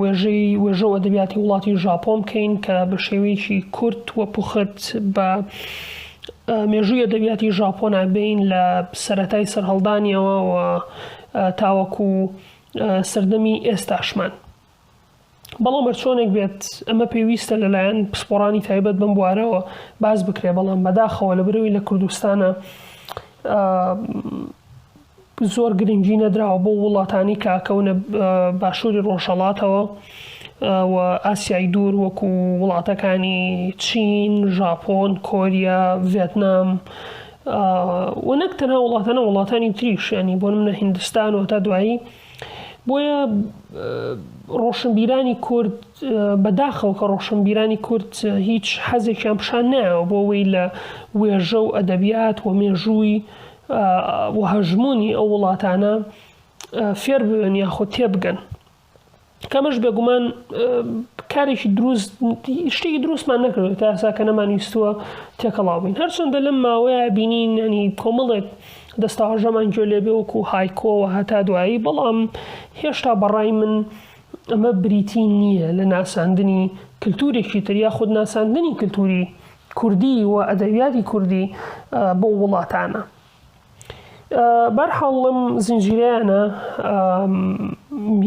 وێژەی وێژە و ئەدەبیاتی وڵاتی ژاپۆن بکەین کە بە شێوەیەکی کورت و پوخت بە مێژووی ئەدەبیاتی ژاپۆنا بین لە سەتای سەرهەڵدانیەوە و تاوەکو سەردەمی ئێستاشمان بەڵام هەرچۆنێک بێت ئەمە پێویستە لەلایەن پسپۆڕانی تایبەت بم بوارەوە باز بکرێ بەڵام بەداخەوە لە برەوی لە کوردستانە زۆر گرنگی نەدراوە بۆ وڵاتانی کە ئەکەونە باشووری ڕۆژهەڵاتەوە و ئاسیای دوور وەکو وڵاتەکانی چین، ژاپۆن، کۆریا، ڤێتنام و نەک تەنها وڵاتانە وڵاتانی تریشیانی بۆ منە هندستان و تا دوایی بۆیە ڕۆشنبیرانی کورد بەداخەوە کە ڕۆشنبیرانی کورد هیچ حەزێکیان پیشان نایەوە بۆ وی لە وێژە و ئەدەبیات و مێژووی و هەژموونی ئەو وڵاتانە فێر ببن یاخود تێبگەن کەمەش بێگومان کارێکی دروست شتێکی دروستمان نەکردێت تا ئەسا کە نەمان ویستووە تێکەڵاو بین هەرچەندە لەم ماوەیە بینین ئەنی کۆمەڵێک دەستاژەمان گوێ لێ بێوەکو هایکۆوە هەتا دوایی بەڵام هێشتا بەڕای من ئەمە بریتی نییە لە ناساندنی کللتورێکی تریا خود ناساندنی کللتوری کوردی و ئەدەبیاتی کوردی بەو وڵاتانە بەرحاڵ لەم زنجیرەیانە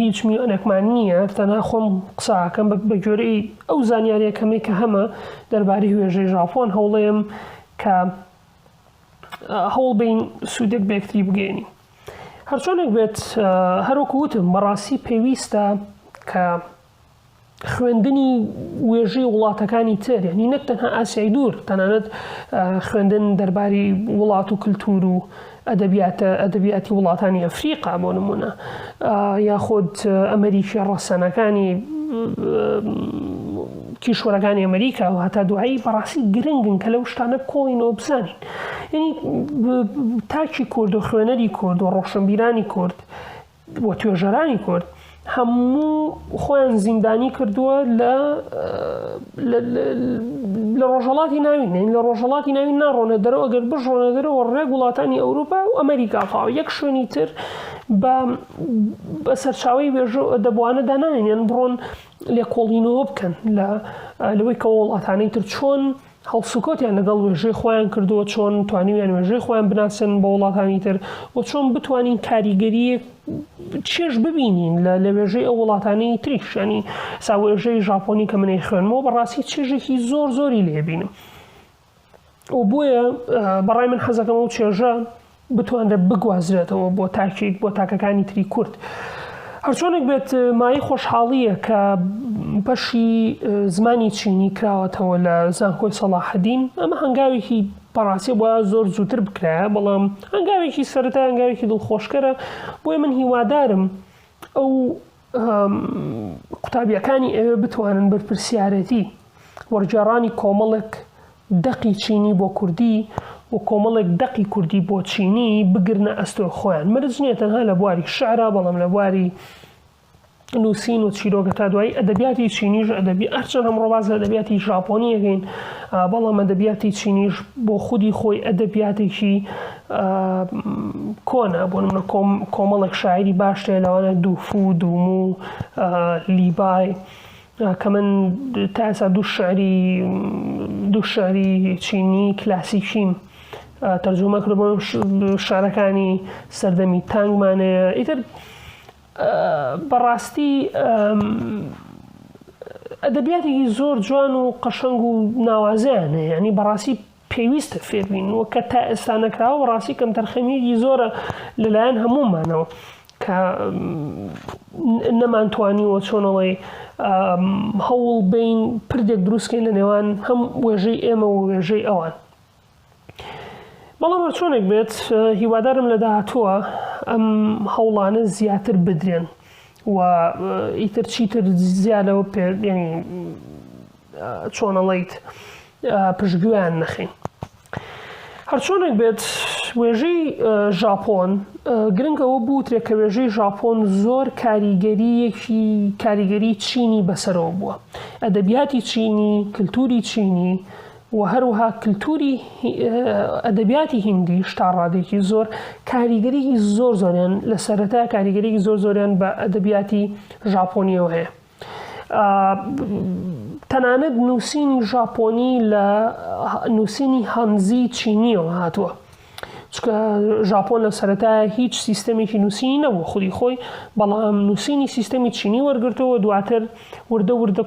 هیچ میوانێکمان نییە تەنا خۆم قساکەم بە گوێرەی ئەو زانیاریە کەمەی کە هەمە دەرباری هوێژەی ژاپۆن هەوڵێم کە هەوڵ بین سوودێک بێکتری بگەێنی هەرچۆنێک بێت هەروەکو وتم بەڕاستی پێویستە کە خوێندنی وێژەی وڵاتەکانی تر یعنی نەک تەنها ئاسیای دوور تەنانەت خوێندن دەرباری وڵات و کللتور و ئەدەبیاتە ئەدەبیاتی وڵاتانی ئەفریقا بۆ نمونە یاخود ئەمریکی ڕەسەنەکانی کیشوەرەکانی ئەمریکا و هەتا دوایی بەڕاستی گرنگن کە لەو شتانە کۆڵینەوە بزانین یعنی تاکی کورد و خوێنەری کورد و ڕۆشنبیرانی کورد و توێژەرانی کورد هەموو خۆیان زیندانی کردووە لە لە ڕۆژەڵاتی ناوین نین لە ڕۆژەڵاتی ناوین ناڕۆنە دەرەوە ئەگەر بژۆنە دەرەوە ڕێک وڵاتانی ئەوروپا و ئەمریکا تاو یەک شوێنی تر بە بە سەرچاوی وێژە دەبوانە دانانێن بڕۆن لێکۆڵینەوە بکەن لە لەوەی کە وڵاتانەی تر چۆن هەڵسوکەوتیان لەگەڵ وێژەی خۆیان کردووە، چۆن توانیویان وێژەی خۆیان بناسێنن بۆ وڵاتانی تر و چۆن بتوانین کاریگەرییەک چێژ ببینین لە لە وێژەی ئەو وڵاتانەی تریش ینی سا وێژەی ژاپۆنی کە منەی خوێنمەوە بەڕاستی چێژێکی زۆر زۆری لێبینم و بۆیە بەڕای من حەزەکەم و چێژە بتوانرێت بگوازرێتەوە بۆ تاکێک بۆ تاکەکانی تری کورد. هەرچۆنێک بێت مایە خۆشحاڵییە کە بەشی زمانی چینی کراوەتەوە لە زانکۆی سەڵاحەدین ئەمە هەنگاوێکی پەڕاسیە بۆ زۆر زووتر بکرایە بەڵام هەنگاوێکی سەرتا هەنگاوێکی دڵخۆشکەرە بۆی من هیوادارم ئەو قوتابیەکانی ئەوێ بتوانن بەرپرسیارەتی وەرگێڕانی کۆمەڵێک دەقی چینی بۆ کوردی و کۆمەڵێک دەقی کوردی بۆ چینی بگرنە ئەستۆ خۆیان مرج نییە تەنها لە بواری شعرا بەڵام لە بواری نووسین و چیرۆگە تا دوایی ئەدەبیاتی چینیش ئەدەبی ئەرچەند هەم ڕۆباز لە دەبیاتی ژاپۆنیەکەین بەڵام ئەدەبیاتی چینیش بۆ خودی خۆی ئەدەبیاتێکی کۆنە، بۆ نمونە کۆمەڵێک شاعیری باش هەیە لەوانە دووفو، دوومو، لیبای کە من تا ئێستا دوو شعری دوو شعری چینی کلاسیکیم تەرجومە کرد بۆ شعرەکانی سەردەمی تانگمانەیە ئیتر بەڕاستی ئەدەبیاتێکی زۆر جوان و قەشەنگ و ناوازەیان هەیە ینی بەڕاستی پێویستە فێربین و کە تا ئێستا نەکراوە بەڕاستی کەمتەرخەمیەکی زۆرە لەلایەن هەموومانەوە کە نەمانتوانیوە چۆنەوەی هەوڵ بین پردێک دروستکەین لە نێوان هەم وێژەی ئێمە و وێژەی ئەوان بەڵام چۆنێک بێت هیوادارم لە داهاتووە ئەم هەوڵانە زیاتر بدرێن و ئیتر چیتر زیادەوە پێ چۆنەڵیت پشتگوێیان نەخەین. هەرچۆنێک بێت وێژەی ژاپۆن گرنگ ئەوە بوترێت کە وێژەی ژاپۆن زۆر کاریگەریەکی کاریگەری چینی بەسەرەوە بووە ئەدەبیاتی چینی کللتوری چینی و هەروها کللتوری ئەدەبیاتی هندی شتا ڕادێکی زۆر کاریگەریی زۆر زۆریان لە سەرەتا کاریگەریی زۆر زۆریان بە ئەدەبیاتی ژاپۆنیەوە هەیە تەنانەت نووسینی ژاپۆنی لە نووسینی هەنزی چینیەوە هاتووە چکە ژاپۆن لە سەرەتای هیچ سیستەمێکی نووسینی نەبوو خودی خۆی بەڵام نووسینی سیستەمی چینی وەرگرتەوە دواتر وردە وردە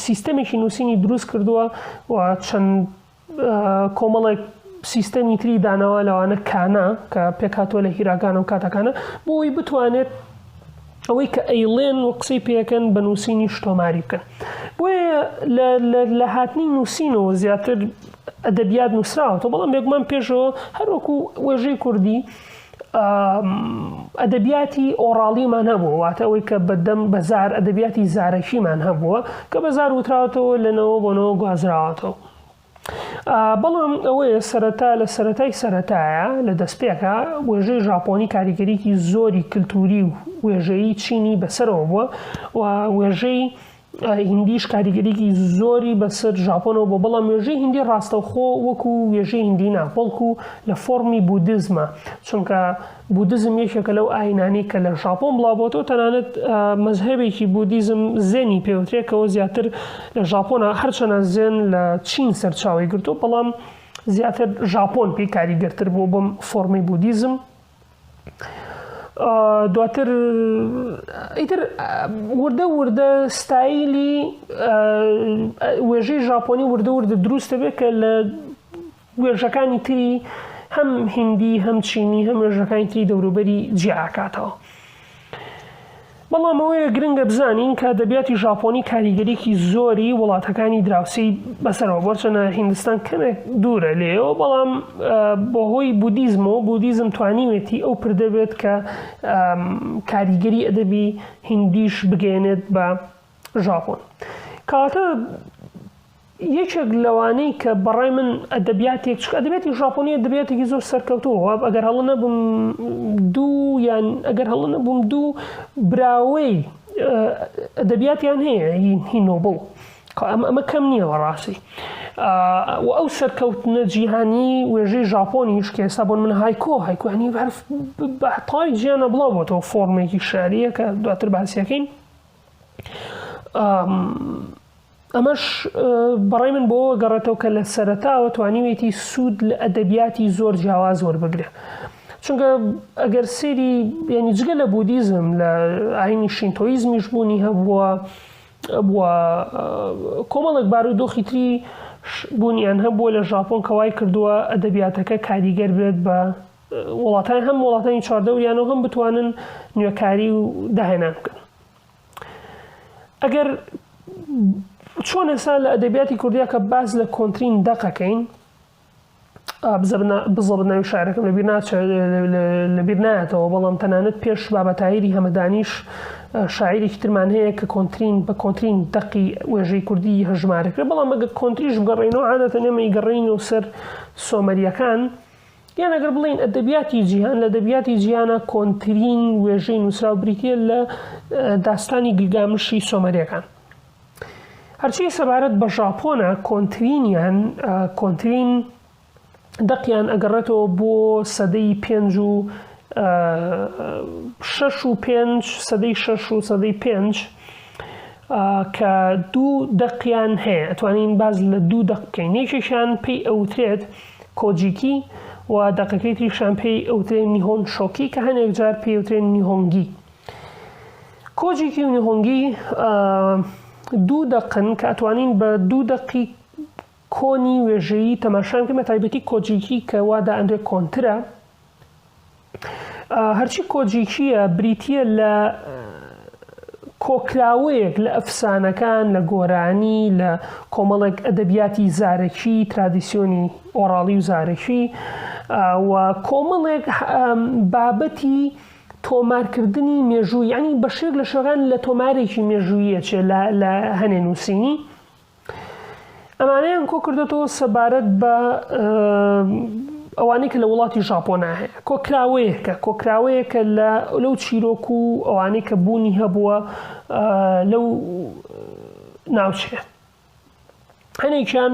سیستەمێکی نووسینی دروست کردووە و چەند کۆمەڵێک سیستەمی تری داناوە لەوانە کانە کە پێکاتوە لە هیراکانە و کاتەکانە بۆی بتوانێت ئەوەی کە ئەیڵێن و قسەی پێەکەن بە نووسینی شتۆماری بکەن بۆیە لە هاتنی نووسینەوە زیاتر ئەدەبیات نووسراوەەوە بەڵام بێگومان پێشەوە هەروەکو وێژەی کوردی ئەدەبیاتی ئۆڕاڵیمان هەبووە واتە ئەوەی کە بەدەم بەزار ئەدەبیاتی زارەکیمان هەبووە کە بەزار وتراوەتەوە لەنەوە بۆنەوە گوازراوەتەوە بەڵام ئەوەیە سەرەتا لە سەتای سەتایە لە دەستپێکە وێژەی ژاپۆنی کاریگەریکی زۆری کللتوری و وێژەیی چینی بەسەرەوە بووە و وێژەی هیندیش کاریگەریی زۆری بەسەر ژاپۆنەوە بووە، بەڵام وێژەی هیندی ڕاستەوخۆ وەکو وێژەی هیندی نا، بەڵکو لە فۆڕمی بودیزمە، چونکە بودیزم یەکێکە لەو ئایینانەی کە لە ژاپۆن بڵاوبۆتەوە، تەنانەت مەزهەبێکی بودیزم زێنی پێوترێ کەوە زیاتر لە ژاپۆنە، هەرچەنە زێن لە چین سەرچاوەی گرتووە، بەڵام زیاتر ژاپۆن پێی کاریگەرتر بووە بەم فۆڕمەی بودیزم. دواتر ئیتر وردە وردە ستایلی وێژەی ژاپۆنی وردە وردە دروستە بێت کە لە وێژەکانی تری هەم هندی هەم چینی هەم وێژەکانی تری دەوروبەری جیاکاتەوە. بەڵام ئەوەیە گرنگە بزانین کە ئەدەبیاتی ژاپۆنی کاریگەریی زۆری وڵاتەکانی دراوسێی بەسەرەوە بووە، هەرچەندە هیندستان کەمێک دوورە لێیەوە، بەڵام بەهۆی بودیزمەوە، بودیزم توانیوێتی ئەو پردە بێت کە کاریگەری ئەدەبی هیندییش بگەیەنێت بە ژاپۆن. کەواتە، یەکێک لەوانەی کە بەڕای من ئەدەبیاتێک چ ئەدەبێتی ژاپۆنی ئەدەبێتێکی زۆر سەرکەوتوو واب ئەگەر هەڵە نەبم دوو یان ئەگەر هەڵە نەبووم دوو براوەی ئەدەبیاتیان هەیە هی نۆبڵ ئەمە کەم نییە بەڕاستی و ئەو سەرکەوتنە جیهانی وێژەی ژاپۆنی شکێسا بۆن من هایکۆ هایکوانی بەرف بەتای جیانە بڵاو بۆتەوە فۆرمێکی شاریە کە دواتر باسیەکەین ئەمەش بەڕای من بۆ گەڕێتەوە کە لە سەرتاوە توانیوێتی سوود لە ئەدەبیاتی زۆر جیاواز وەربگرێ چونکە ئەگەر سێری ینی جگە لە بودیزم لە ئاینی شینتۆیزمیش بوونی هەبووە بووە کۆمەڵک بارودۆخی تری بوونیان هەبووە لە ژاپۆن کەوای کردووە ئەدەبیاتەکە کاریگەر بێت بە وڵاتان هەم وڵاتانی چواردەوریانەوە هەم بتوانن نوێکاری و داهێنان بکەن ئەگەر چۆن ئێستا لە ئەدەبیاتی کوردیا کە باس لە کۆنتترین دەقەکەین بزڵ ناوی شارەکەم لەبیر لەبیر نایەتەوە بەڵام تەنانەت پێش بابەتایری هەمەدانیش شاعیرێکی ترمان هەیە کە کۆنتترین بە کۆنتترین دەقی وێژەی کوردی هەژمارەکرێ بەڵام ئەگە کۆنتتریش بگەڕێنەوە عادەتە نێمەی گەڕین و سەر سۆمەریەکان یان ئەگەر بڵێین ئەدەبیاتی جیهان لە دەبیاتی جیانە کۆنترین وێژەی نووسراو بریتە لە داستانی گلگامشی سۆمەریەکان هەرچی سەبارەت بە ژاپۆنە کۆنترینیان کۆنترین دەقیان ئەگەڕێتەوە بۆ سەدەی پێنج و شش و پێنج سەدەی شش و سەدەی پێنج کە دوو دەقیان هەیە ئەتوانین باز لە دوو دەق بکەین یەکێکیان پێی ئەوترێت کۆجیکی، و دەقەکەی تریشیان پێی ئەوترێ نیهۆن شۆکی کە هەنێک جار پێی ئەوترێ نیهۆنگی. کۆجیکی و نیهۆنگی دوو دەقن کە ئەتوانین بە دوو دەقی کۆنی وێژەیی تەماشان کە بە تایبەتی کۆجیکی کە وادا ئەندێک کۆنترە هەرچی کۆجیکییە بریتییە لە کۆکراوەیەک لە ئەفسانەکان، لە گۆرانی، لە کۆمەڵێک ئەدەبیاتی زارەکی، ترادیسیۆنی ئۆڕاڵی و زارەکی و کۆمەڵێک بابەتی تۆمارکردنی مێژوو یانی بە شێوەیەک لە شێوەکان لە تۆمارێکی مێژووییە چێ لە هەنێ نووسینی. ئەمانەیان کۆ کردێتەوە سەبارەت بە ئەوانەی کە لە وڵاتی ژاپۆنا هەیە کۆکراوەیەکە کۆکراوەیەکە لە لەو چیرۆک و ئەوانەی کە بوونی هەبووە لەو ناوچەیە هەنێکیان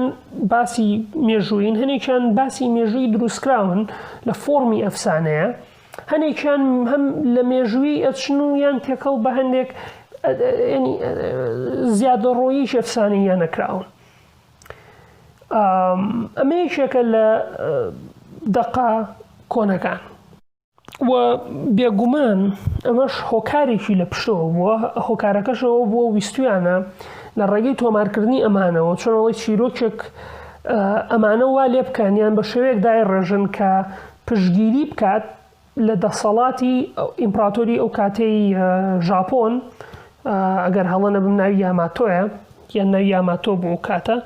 باسی مێژووین هەنێکیان باسی مێژووی دروستکراون لە فۆمی ئەفسانەیە هەنێکیان هەم لە مێژووی ئەچن و یان تێکەڵ بە هەندێک زیادە ڕۆیی شەفسانی یان نەکراون ئەمە یەکێکە لە دەقا کۆنەکان و بێگومان ئەمەش هۆکارێکی لە پشتەوە بووە هۆکارەکەشەوە بۆ ویستویانە لە ڕێگەی تۆمارکردنی ئەمانەوە چۆنەوەی چیرۆکێک ئەمانە وا لێ بکانیان بە شێوەیەک دای ڕێژن کە پشتگیری بکات لە دەسەڵاتی ئیمپڕاتۆری ئەو کاتەی ژاپۆن، ئەگەر هەڵە نەبم ناوی یاماتۆیە یان ناوی یاماتۆ بوو ئەو کاتە،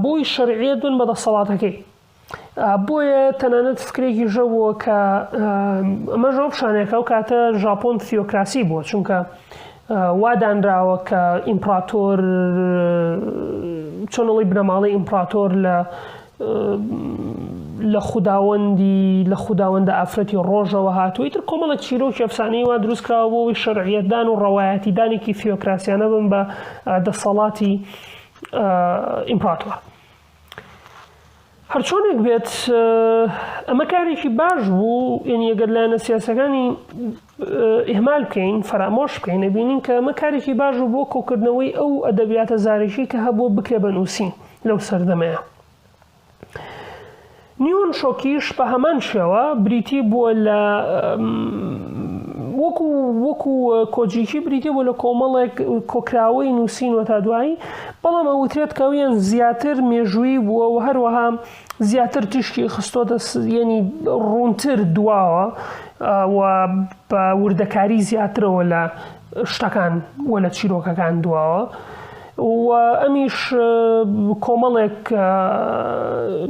بۆی شەرعیەت بن بە دەسەڵاتەکەی. بۆیە تەنانەت فکرێکی ژەبووە کە ئەمە ژۆ پیشانەیە کە ئەو کاتە ژاپۆن تیۆکراسی بووە چونکە وادانراوە کە ئیمپڕاتۆر چۆنەڵی بنەماڵەی ئیمپڕاتۆر لە لە خوداوەندی لە خوداوەندە ئافرەتی ڕۆژەوە هاتووە ئیتر کۆمەڵێک چیرۆکی ئەفسانەی وا دروست کراوە بۆ ئەوەی شەرعیەتدان و ڕەوایەتیدانێکی فیۆکراسیانە بن بە دەسەڵاتی ئیمپراتۆر هەرچۆنێک بێت ئەمە کارێکی باش بوو یعنی ئەگەر لایەنە سیاسەکانی ئیهمال بکەین فەرامۆش بکەین ئەبینین کە ئەمە کارێکی باش بوو بۆ کۆکردنەوەی ئەو ئەدەبیاتە زارەکی کە هەبوو بکرێ بە نووسین لەو سەردەمەیە نیون شۆکیش بە هەمان شێوە بریتی بووە لە وەکو وەکو کۆجیکی بریتێ بۆ لە کۆمەڵێک کۆکراوەی نووسین و تا دوایی بەڵام ئەوترێت کەویان زیاتر مێژووی بووە و هەروەها زیاتر تیشکی خستۆتە یەنی ڕوونتر دواوە و بە وردەکاری زیاترەوە لە شتەکان و لە چیرۆکەکان دواوە. و ئەمیش کۆمەڵێک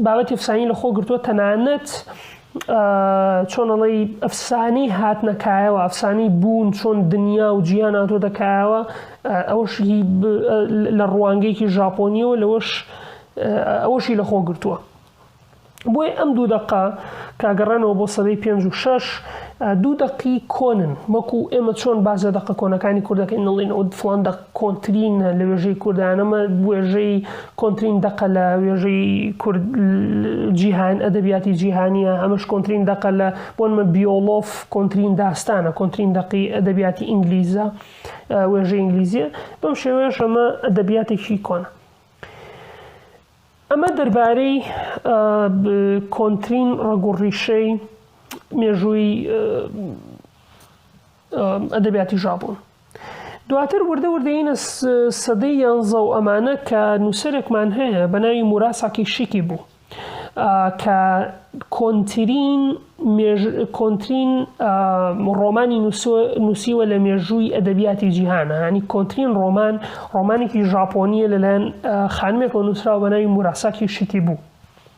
بابەتی فسانی لە خۆ گرتووە تەنانەت چۆن ئەڵێی ئەفسانی هاتنە کایەوە ئەفسانی بوون چۆن دنیا و جیان هاتۆتە کایەوە ئەوش لە ڕوانگەیەکی ژاپۆنیەوە لەوەش ئەوەشی لە خۆ گرتووە بۆی ئەم دوو دەقە کاگەڕانەوە بۆ سەدەی پێنج و شش دوو دەقی کۆنن وەکو ئێمە چۆن باز لە دەقە کۆنەکانی کوردەکەی نڵین و فلان دەق کۆنترین لە وێژەی کوردان ئەمە وێژەی کۆنترین دەقە لە وێژەی کورد جیهان ئەدەبیاتی جیهانیە ئەمەش کۆنترین دەقە لە بۆنمە بیۆڵۆف کۆنترین داستانە کۆنترین دەقی ئەدەبیاتی ئینگلیزە وێژە ئینگلیزیە بەم شێوەیەش ئەمە ئەدەبیاتێکی کۆنە ئەمە دەربارەی کۆنترین ڕەگوڕیشەی مێژووی ئەدەبیاتی ژاپۆن دواتر وردە وردەینە سەدەی یانزە و ئەمانە کە نووسەرێکمان هەیە بە ناوی موراساکی شیکی بوو کە کۆنترین کۆنترین ڕۆمانی نووسیوە لە مێژووی ئەدەبیاتی جیهانە هەنی کۆنترین ڕۆمان ڕۆمانێکی ژاپۆنیە لەلایەن خانمێکەوە نووسراوە بە ناوی موراساکی شیکی بوو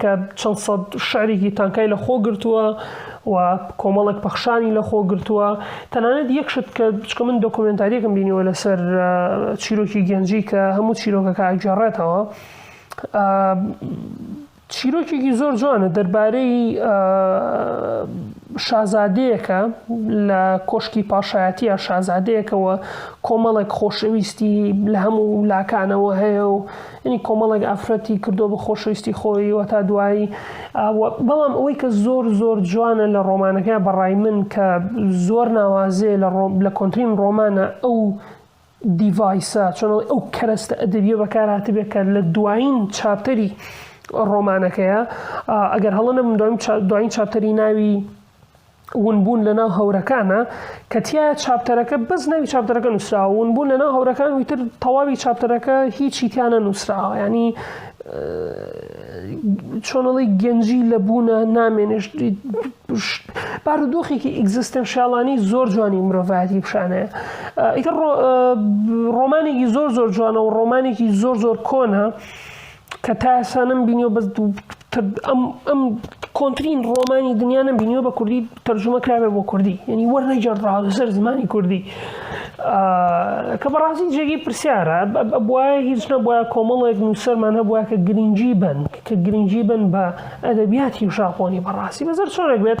کە چەند سەد شعرێکی تانکای لە خۆ گرتووە و کۆمەڵێک پەخشانی لە خۆ گرتووە تەنانەت یەک شت کە بچکە من دۆکۆمنتاریەکەم بینیوە لەسەر چیرۆکی گەنجی کە هەموو چیرۆکەکە ئەگەڕێتەوە چیرۆکێکی زۆر جوانە دەربارەی شازادەیەەکە لە کۆشکی پاشایەتە شازادەیەکەوە کۆمەڵێک خۆشەویستی لە هەموو لاکانەوە هەیە و یانی کۆمەڵێک ئافرەتی کردووە بە خۆشەویستی خۆی وە تا دوایی بەڵام ئەوەی کە زۆر زۆر جوانە لە ڕۆمانەکە بەڕای من کە زۆر ناوازێ لە ڕۆم لە کۆنترین ڕۆمانە ئەو دیڤایسە چۆنەوەی ئەو کەرەستە ئەدەبیە بەکارهاتبێ کە لە دوایین چاپتەری ڕۆمانەکەیە ئەگەر هەڵە نەبم دوایین چاپتەری ناوی ونبوون لەناو هەورەکانە کە تایە چاپتەرەکە بەس ناوی چاپتەرەکە نووسراوە ونبوون لەناو هەورەکان وتر تەواوی چاپتەرەکە هیچی تیانە نووسراوە ینی چۆنەڵی گەنجی لە بوونە نامێنشت بارودۆخێکی ئیگزستنشیاڵانی زۆر جوانی مرۆڤایەتی پیششانەیە ئیتر ڕۆمانێکی زۆر زۆر جوانە و ڕۆمانێکی زۆر زۆر کۆنە کە تا ئێستا نەمبینیەوە بەس ئەم کۆنترین ڕۆمانی دنیا نەبینیەوە بە کوردی تەرجمە کرابێ بۆ کوردی ینی وەر نەجار ڕاوسەر زمانی کوردی کە بەڕاستی جێگەی پرسیارە بە هیچ نەبە کۆمەڵێک نووسەرمان هەبووە کە گرنگجی بن کە گرنگجی بن بە ئەدەبیاتی و ژاپۆنی بەڕاستی بەزەر چۆنێک بێت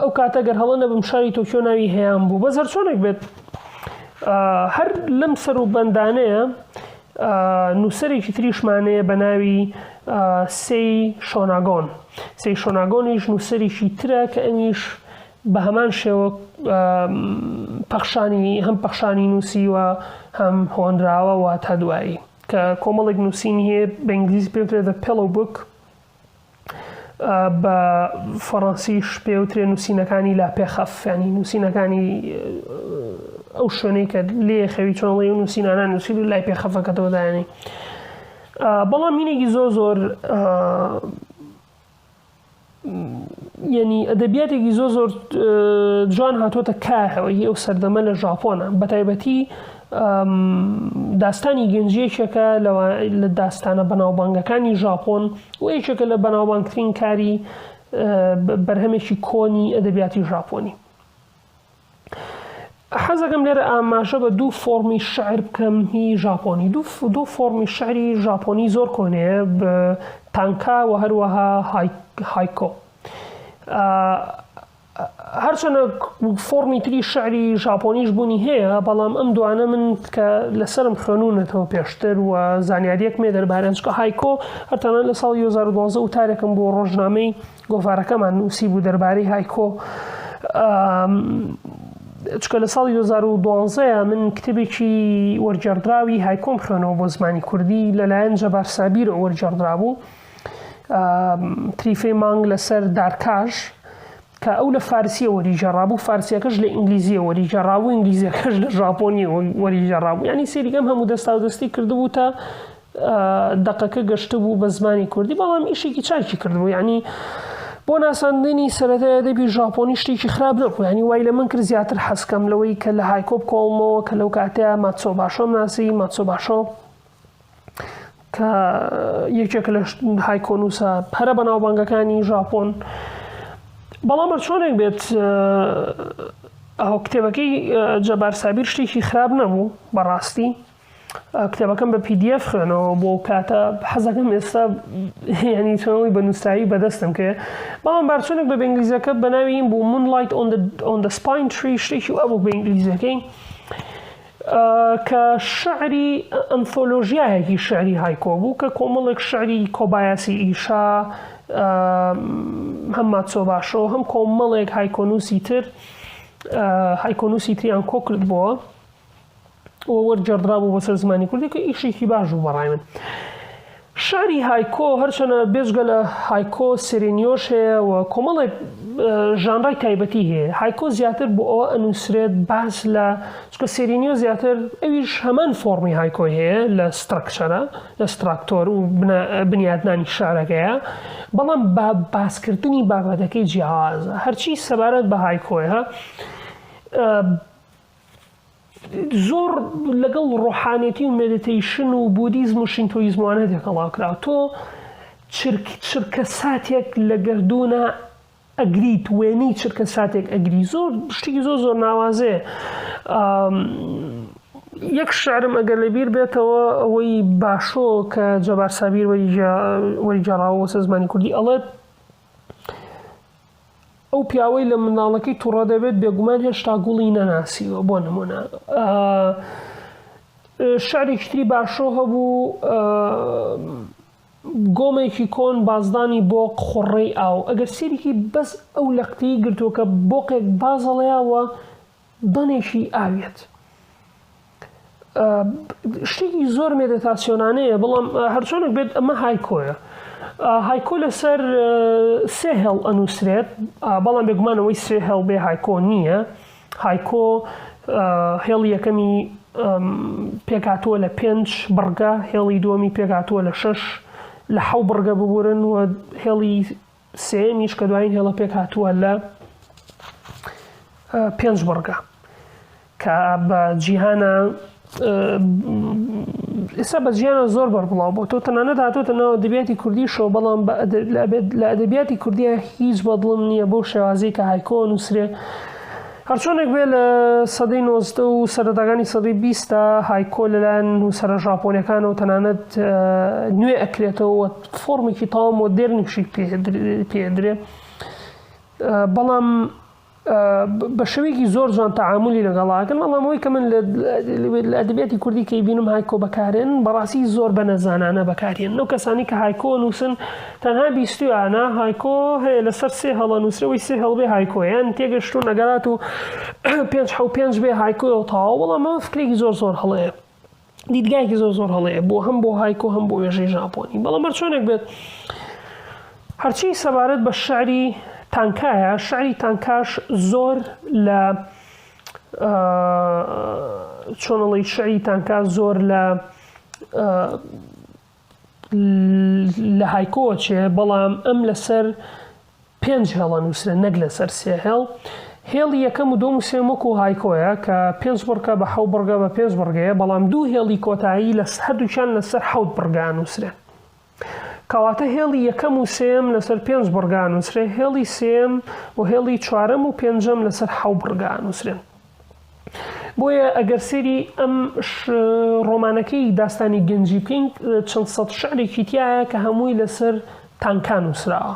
ئەو کاتە گەر هەڵە نەبم شاری تۆکیۆ ناوی هەیان بوو بە زەرچۆنێک بێت هەر لەم سەر و بەندانەیە نووسەرێکی تریشمانەیە بە ناوی سی شۆناگۆن سی شۆناگۆنیش نووسەرێکی ترە کە ئەمیش بە هەمان شێوە پەخشانی هەم پەخشانی نووسی و هەم هۆنراوە و تا دوایی کە کۆمەڵێک نووسین هەیە بە ئینگلیزی پێ دە پێڵ و بک بە فەڕەنسیش پێ وترێ نووسینەکانی لا پێخەف ینی نووسینەکانی ئەو شوێنەی کە لێ خەوی چۆنڵی و نووسینانە نووسین و لای پێخەفەکەتەوەدایانی بەڵام مینێکی زۆر زۆر یعنی ئەدەبیاتێکی زۆ زۆر جوان هاتوۆتە کارەوەی ئەو سەردەمە لە ژاپۆنە بەتایبەتی داستانی گەنج یەکێکە لە داستانە بەناوبانگەکانی ژاپۆن و یەکێکە لە بەناوبانگترین کاری بەرهەمێکی کۆنی ئەدەبیاتی ژاپۆنی حەزەکەم لێرە ئاماژە بە دوو فۆمی شعر بکەم هی ژاپۆنی دوو فۆمی شعری ژاپۆنی زۆر کۆنەیە تانکا و هەروەها هایکۆ هەرچەنە فۆڕمی تری شعری ژاپۆنیش بوونی هەیە بەڵام ئەم دوانە من کە لەسرم خوێنونەتەوە پێشتر و زانیاریەک مێ دەربارەنجکە هایکۆ هەرتانە لە ساڵ 2012 و تارێکم بۆ ڕۆژنامەی گۆڤارەکەمان نووسی بوو دەربارەی هایکۆ چکە لە ساڵی 2012 من کتێبێکی وەرجێڕدراوی هایکۆم خوێنەوە بۆ زمانی کوردی لەلایەن جەبار سابیر وەرجێڕدرا بوو تریفەی مانگ لەسەر دارکاش کە ئەو لە فارسیە وەریژەڕابوو فارسیەکەش لە ئینگلیزیە وەریژەڕاوو ئینگلیزیەکەش لە ژاپۆنی وەریژەڕابوو ینی سێریگەم هەموو دەستا و دەستی کردبوو تا دەقەکە گەشتبوو بە زمانی کوردی بەڵام ئیشێکی چاکی کردبوو ینی بۆ ناساندنی سەرەتای ئەدەبی ژاپۆنی شتێکی خراپ نەبوو ینی وای لە من کرد زیاتر حەسکەم لەوەی کە لە هایکۆب کۆڵمەوە کە لەو کاتەیە ماتسۆ باشۆم ناسی ماتسۆ باشۆ کە یەکێک لە هایکۆنووسە پەرە بە ناوبانگەکانی ژاپۆن بەڵام بە چۆنێک بێت ئەو کتێبەکەی جەبار سابیر شتێکی خراپ نەبوو بەڕاستی کتێبەکەم بە پیDF خوێنەوە بۆ کاتە حەزەکەم ئێستا ینی چۆنەوەی بە نووسایی بەدەستم کێ بەڵام بارچۆنێک بە بەنگلیزەکە بەناوی بوو من لایت ئۆن دە سپین تری شتێکی ئەبوو بە ئینگلیزەکەی کە شعری ئەنثۆلۆژیایەکی شعری هایکۆ بوو کە کۆمەڵێک شعری کۆبایاسی ئیشا هەم ماتسۆباشۆ هەم کۆمەڵێک هایکۆنووسی تر هایکۆنووسی تریان کۆ کردبووە وەرجێڕدرابوو بەسەر زمانی کوردی کە ئیشێکی باش بوو بەڕای من. شیعری هایکۆ هەرچەنە بێجگە لە هایکۆ سێرێنیۆش هەیە و کۆمەڵێک ژانرای تایبەتی هەیە هایکۆ زیاتر بۆ ئەوە ئەنووسرێت باس لە چکە سێرینیۆ زیاتر ئەویش هەمان فۆڕمی هایکۆی هەیە لە سترەکچەرە لە ستراکتۆر و بنیادنانی شارەکەیە بەڵام بە باسکردنی بابەتەکەی جیاوازە هەرچی سەبارەت بە هایکۆیە زۆر لەگەڵ ڕۆحانێتی و مێدیتەیشن و بودیزم و شینتۆیزم و ئەنە تێکەڵاو کراوە تۆ چرک چرکە ساتێک لە گەردوونە ئەگریت وێنەی چرکە ساتێک ئەگری زۆر شتێکی زۆر زۆر ناوازەیە یەک شعرم ئەگەر لەبیر بێتەوە ئەوەی باشۆ کە جەبار سابیر وەری جێڕاوە سە زمانی کوردی ئەڵێت ئەو پیاوەی لە منداڵەکەی توڕە دەبێت بێگومان هێشتا گوڵی نەناسیوە بۆ نمونە شعرێکتری باشۆ هەبوو گۆمێکی کۆن بازدانی بۆ قڕەی ئاو ئەگەر سێریکی بەس ئەو لەقتەی گرتووە کە بۆقێک بازەڵەیەوە دەنێکی ئاویەت شتێکی زۆر مێدەتاسیۆنانەیە بەڵام هەرچۆنێک بێت ئەمە هایکۆیە هایکۆ لەسەر سێ هێڵ ئەنووسرێت بەڵام بێگومانەوەی سێ هێڵ بێ هایکۆ نییە هایکۆ هێڵ یەکەمی پێکاتوە لە پێنج بڕگە هێڵی دووەمی پێکاتوە لە شش لە حەو بڕگە ببورن و هێڵی سێیەمیش کە دوایین هێڵە پێکهاتووە لە پێنج بڕگە کە بە جیهانە ئێستا بە جیانە زۆر بەربڵاو بۆ تۆ تەنانە دااتۆتە ناوە دەبیاتی کوردی شەو بەڵام لە ئەدەبیاتی کوردیا هیچ بەدڵم نییە بۆ شێوازی کە هایکۆ نووسرێ هەرچۆنێک بێ لە سەدەی نۆزدە و سەرەتاکانی سەدەی بیستە هایکۆ لەلایەن نووسرە ژاپۆنەکانەوە تەنانەت نوێ ئەکرێتەوە فۆرمێکی تەواو مۆدێرنیشی پێدرێ بەڵام بە شوێکی زۆر جوان تەعاملی لەگەڵاکەن بەڵامەوەی کە من لە ئەدبێتی کوردی کەی بینم هایکۆ بەکارێن بەڕاستی زۆر بە نەزانانە بەکارێن نەو کەسانی کە هایکۆ نووسن تەنها بیستویانە هایکۆ هەیە لەسەر سێ هەڵە نووسەوەی سێ هەڵبێ هایکۆیان تێگەشتون ئەگەرات و پێ پێ بێ هایکۆ و تاوا بەڵامەوە فکرێکی زۆر زۆر هەڵەیە دیدگایەکی زۆر زۆر هەڵەیە بۆ هەم بۆ هایکۆ هەم بۆ وێژەی ژاپۆنی بەڵام هەر چۆنێک بێت هەرچی سەبارەت بە شعری تانکایە شعری تانکاش زۆر لە چۆنڵی شعری تانکا زۆر لە لە هایکۆوە چێ بەڵام ئەم لەسەر پێنج هێڵە نووسرێ نەک لەسەر سێ هێڵ هێڵی یەکەم و دۆم و سێم وەکو هایکۆیە کە پێنج بڕگە بە حەو بڕگە بە پێنج بڕگەیە بەڵام دوو هێڵی کۆتایی لە هەردووچان لەسەر حەوت بڕگا نووسرێن کەواتە هێڵی یەکەم و سێم لەسەر پێنج بڕگا نووسرێ هێڵی سێم و هێڵی چوارەم و پێنجەم لەسەر حەو بڕگا نووسرێن بۆیە ئەگەر سەیری ئەم ڕۆمانەکەی داستانی گەنجی بکەین چەند سەد شعرێکی تایە کە هەمووی لەسەر تانکان نووسراوە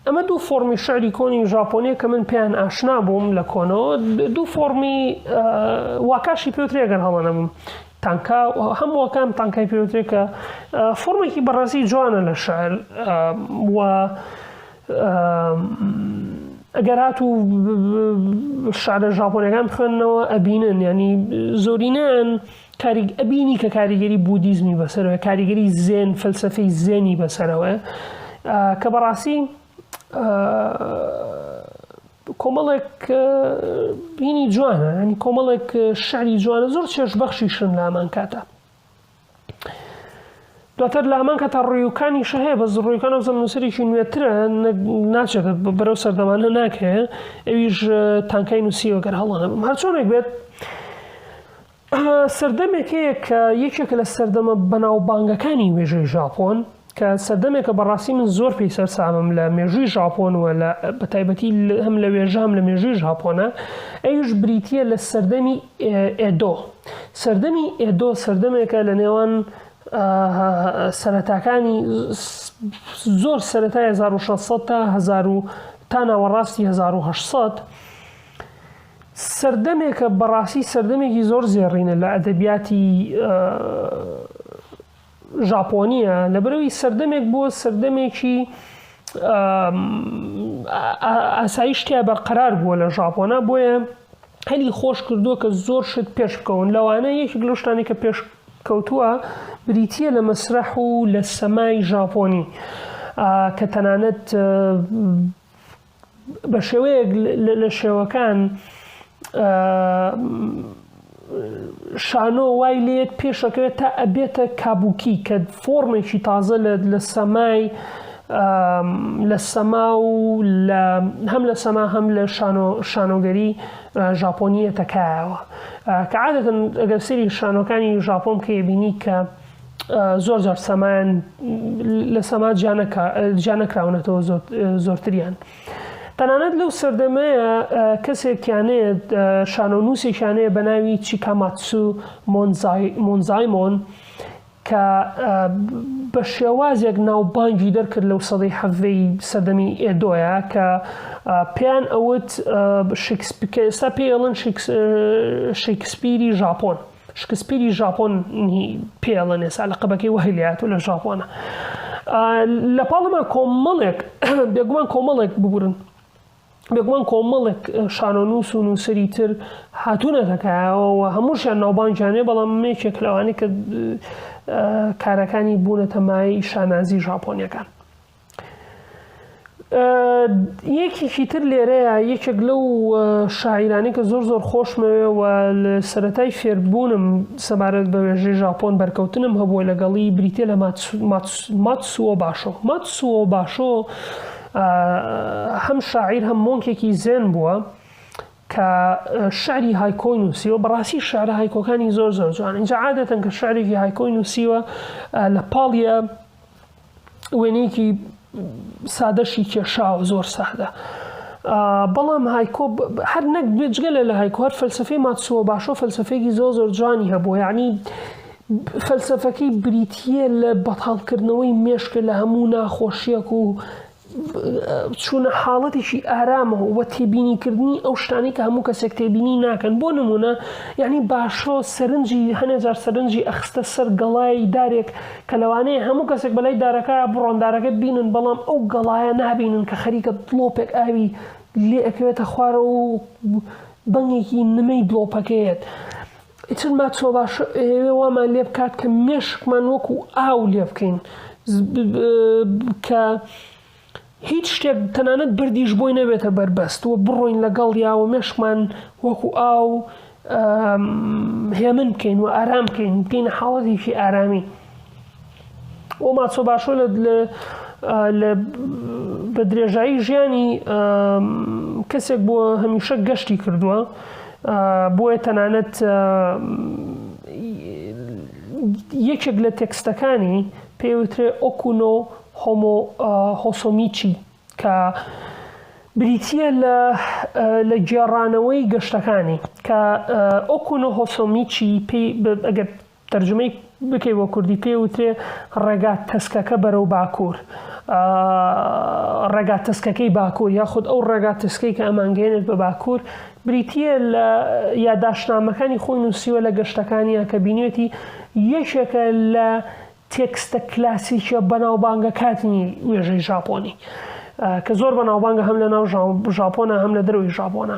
ئەمە دوو فۆمی شعری کۆنی ژاپۆنیە کە من پێیان ئاشنا بووم لە کۆنەوە دوو فۆمی واکاشی پێوترێگەر هەڵەنەبووم تانکا هەمووەکان تانکای پێوترێکە فۆرمێکی بەڕاستی جوانە لە شعر و ئەگەر هاتوو شارە ژاپۆنەکان بخوێنەوە ئەبینن ینی زۆرینەن کاریک ئەبینی کە کاریگەری بودیزمی بەسەرەوە کاریگەری زێن فەلسفەی زێنی بەسەرەوە کە بەڕاستی کۆمەڵێک بینی جوانە ینی کۆمەڵێک شعری جوانە زۆر چێش بەخشیشن لامان کاتە دواتر لە هەمان کاتا ڕویوکانیشە هەیە بە زڕویەکان ئەوزە نووسەرێکی نوێترە ناچێت بەرەو سەردەمانە ناکرێ ئەویش تانکای نووسیەوە گەر هەڵانەبم هەرچۆنێک بێت سەردەمێک هەیە کە یەکێکە لە سەردەمە بەناوبانگەکانی وێژەی ژاپۆن کە سەردەمێکە بەڕاستی من زۆر پێی سەرسامم لە مێژووی ژاپۆن و لە بەتایبەتی هەم لە وێژە هەم لە مێژووی ژاپۆنە ئەویش بریتییە لە سەردەمی ئێدۆ سەردەمی ئێدۆ سەردەمێکە لە نێوان سەرەتاکانی زۆر سەرەتای 1600 تا 1000 تا ناوەڕاستی 1970 سەردەمێکە بەڕاستی سەردەمێکی زۆر زێڕینە لە ئەدەبیاتی ژاپۆنییە لەبەرەوەی سەردەمێک بۆ سەردەمێکی ئاسایی شتیا بەرقەرار بووە لە ژاپۆنا بۆیە هەلی خۆش کردووە کە زۆر شت پێش بکەون لەوانە یەکێک لە شتانی کە پێش کەوتووە بریتە لە مەسرح و لە سەمای ژاپۆنی کە تەنانەت بە شێوەیەک لە شێوەکان شانۆ وای لێت پێشەکەوێت تا ئەبێتە کابووکی کە فۆرمێکی تازە لە لە سەمای لە سەما و هەم لە سەما هەم لە شانۆگەری ژاپۆنیەتەکایەوە کە عادەتن ئەگەر سری شانۆکانی ژاپۆم کێبینی کە زۆر جار سەمایان لە سەما جیانەکراونەتەوە زۆرتریان. تەنانەت لەو سەردەمەیە کەسێکیانەیە شانۆ و نووسێکیانەیە بە ناوی چیکاماتسو مۆنزایمۆن کە بە شێوازێک ناوبانگی دەرکرد لەو سەدەی حەڤەی سەردەمی ئێدۆیە کە پێیان ئەوت شکسپکە ئێستا پێڵن شکسپیری ژاپۆن. شکسپیری ژاپۆن نی پێ ئەڵێن ئێسا لەقەبەکەی وەهی لێهاتوو لە ژاپۆنە لە پاڵمان کۆمەڵێک بێگومان کۆمەڵێک ببورن بێگومان کۆمەڵێک شانۆنووس و نووسری تر هاتوونەتەکایەوە هەمووشیان ناوبانگیانێ بەڵام مێکێک لەوانی کە کارەکانی بوونەتە مای شانازی ژاپۆنیەکان یەکێکی تر لێرەیە یەکێک لەو شاعیرانی کە زۆر زۆر خۆشمەوێ و لە سەتای فێربوونم سەبارەت بە وێژەی ژاپۆن بەرکەوتنم هەبووە لەگەڵی بریتە لە ماتسووە باشۆ ماتسووە باشۆ هەم شاعیر هەم مۆنکێکی زێن بووە کە شعری هایکۆی نووسیوە بەڕاستی شعر هایکۆکانی زۆر زۆر جوان اینجا عادەتەن کە شعرێکی هایکۆی نووسیوە لە پاڵە وێنەیەکی سادەشی کێشاوە زۆر سادە بەڵام هایکۆ هەر نەک بێجگە لە لە هایکۆ هەر فەلسفەی ماتسووە باشۆ فەلسفەیەکی زۆ زۆر جوانی هەبوو یعنی فەلسفەکەی بریتە لە بەتاڵکردنەوەی مێشکە لە هەموو ناخۆشیەک و چوونە حاڵەتێکی ئارامەوە و تێبینیکردنی ئەو شتانەی کە هەموو کەسێک تێبینی ناکەن بۆ نمونە یعنی باشۆ سەرنجی هەنێجار سەرنجی ئەخستە سەر گەڵای دارێک کە لەوانەیە هەموو کەسێک بەلای دارەکە بڕۆن دارەکە بینن بەڵام ئەو گەڵایە نابینن کە خەریکە دڵۆپێک ئاوی لێ ئەکەوێتە خوارەوە و بەنگێکی نمەی دڵۆپەکەیەت ئیتر ماچۆباشۆ ئەیەوێ وامان لێ بکات کە مێشکمان وەکو ئاو لێ بکەین کە هیچ شتێک تەنانەت بردیش بۆی نەبێتە بەربەست و بڕۆین لەگەڵ یا و مێشکمان وەکو ئاو هێمن بکەین و ئارام بکەین بکەینە حاڵەتێکی ئارامی ئەو ماچۆ باشۆ لە بە درێژایی ژیانی کەسێک بۆ هەمیشە گەشتی کردووە بۆیە تەنانەت یەکێک لە تێکستەکانی پێوترێ ئۆکوونۆ هۆمۆ هۆسۆمیچی کە بریتە لە لە گێڕانەوەی گەشتەکانی کە ئۆکوونۆ هۆسۆمیچی پێی ئەگەر تەرجومەی بکەی بۆ کوردی پێی وترێ ڕێگا تەسکەکە بەرەو باکوور ڕێگا تەسکەکەی باکوور یاخود ئەو ڕێگا تەسکەی کە ئەمانگەێنێت بە باکوور بریتە لە یاداشنامەکانی خۆی نووسیوە لە گەشتەکانیان کە بینێتی یەکێکە لە تێکستە کلاسیکە بەناوبانگە کاتنی وێژەی ژاپۆنی کە زۆر بەناوبانگە هەم لە ناو ژاپۆنە هەم لە دەروی ژاپۆنە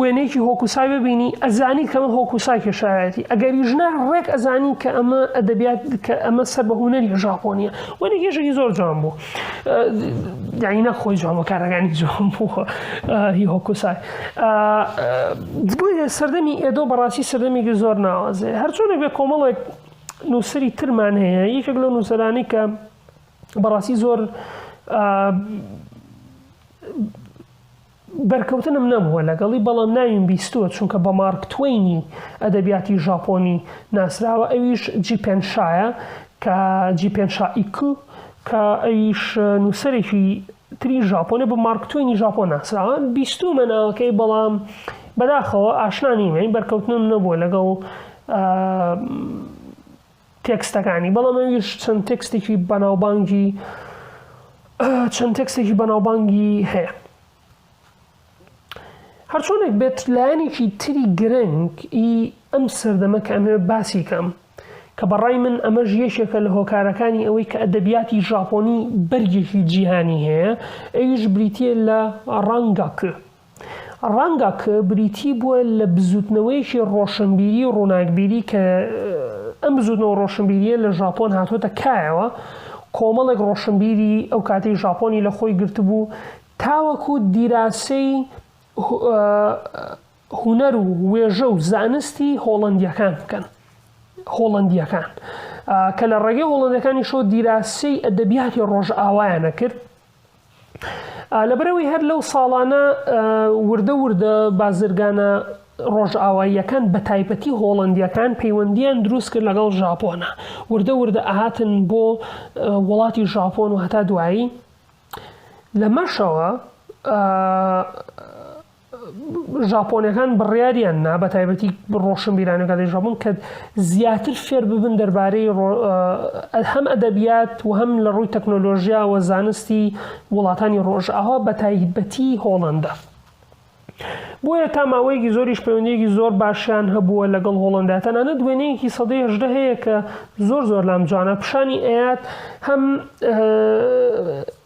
وێنەیەکی هۆکوسای ببینی ئەزانی کە من هۆکوسای کێشایەتی ئەگەریش نە ڕێک ئەزانی کە ئەمە ئەدەبیات کە ئەمە سەر بە هوەری ژاپۆنیە وەنی گێژێکی زۆر جوان بوو داینە خۆی جوان بە کارەکانی جوان بوو هی هۆکوسای بۆیە سەردەمی ئێدۆ بەڕاستی سەردەمێکی زۆر ناوازێ هەرچۆنێک بێ کۆمەڵێک نووسری ترمان هەیە یەکێک لە نووسەرانی کە بەڕاستی زۆر بەرکەوتنم نەبووە لەگەڵی، بەڵام ناویم بیستووە، چونکە بە مارک توەینی ئەدەبیاتی ژاپۆنی ناسراوە، ئەویش جیپێن شایە کە Jippen Shaiku کە ئەویش نووسەرێکی تری ژاپۆنە بە مارک توەینی ژاپۆن ناسراوە، بیستوومە ناوەکەی بەڵام بەداخەوە ئاشنا نیم، یانی بەرکەوتنم نەبووە لەگەڵ. تێکستەکانی بەڵام ئەویش چەند تێکستێکی بەناوبانگی چەند تێکستێکی بەناوبانگی هەیە هەرچۆنێک بێت لایەنێکی تری گرنگ ئی ئەم سەردەمە کە ئەمێ باسی کەم کە بەڕای من ئەمەش یەکێکە لە هۆکارەکانی ئەوەی کە ئەدەبیاتی ژاپۆنی بەرگێکی جیهانی هەیە ئەویش بریتە لە ڕەنگەکە ڕەنگە کە بریتی بووە لە بزووتنەوەیەکی ڕۆشنبیری و ڕووناکبیری کە ئەم بزووتنەوە و ڕۆشنبیرییە لە ژاپۆن هاتۆتە کایەوە، کۆمەڵێک ڕۆشنبیری ئەو کاتەی ژاپۆنی لە خۆی گرتبوو تاوەکو دیراسەی هونەر و وێژە و زانستی هۆڵەندییەکان بکەن. هۆڵەندییەکان کە لە ڕێگەی هۆڵەندەکانیشەوە دیراسەی ئەدەبیاتی ڕۆژئاوایان ئەکرد، لەبەرئەوەی هەر لەو ساڵانە وردە وردە بازرگانە ڕۆژئاواییەکان بە تایبەتی هۆڵندیەکان پەیوەندیان دروست کرد لەگەڵ ژاپۆنە وردە وردە ئاهاتن بۆ وڵاتی ژاپۆن و هەتا دوایی لەمەشەوە ژاپۆنەکان بڕیاریان نا بە تایبەتی ڕۆشن بیرانە کاتی ژاپۆن کە زیاتر فێر ببن دەربارەی هەم ئەدەبیات و هەم لە ڕووی تەکنۆلۆژیا و زانستی وڵاتانی ڕۆژ ئاوا بە تایبەتی هۆڵندا بۆیە تا ماوەیەکی زۆریش پەیوەندێکی زۆر باشیان هەبووە لەگەڵ هۆڵندا تەنانە دوێنەیەکی سەدەی هەژدە هەیە کە زۆر زۆر لام جوانە پیشانی ئەات هەم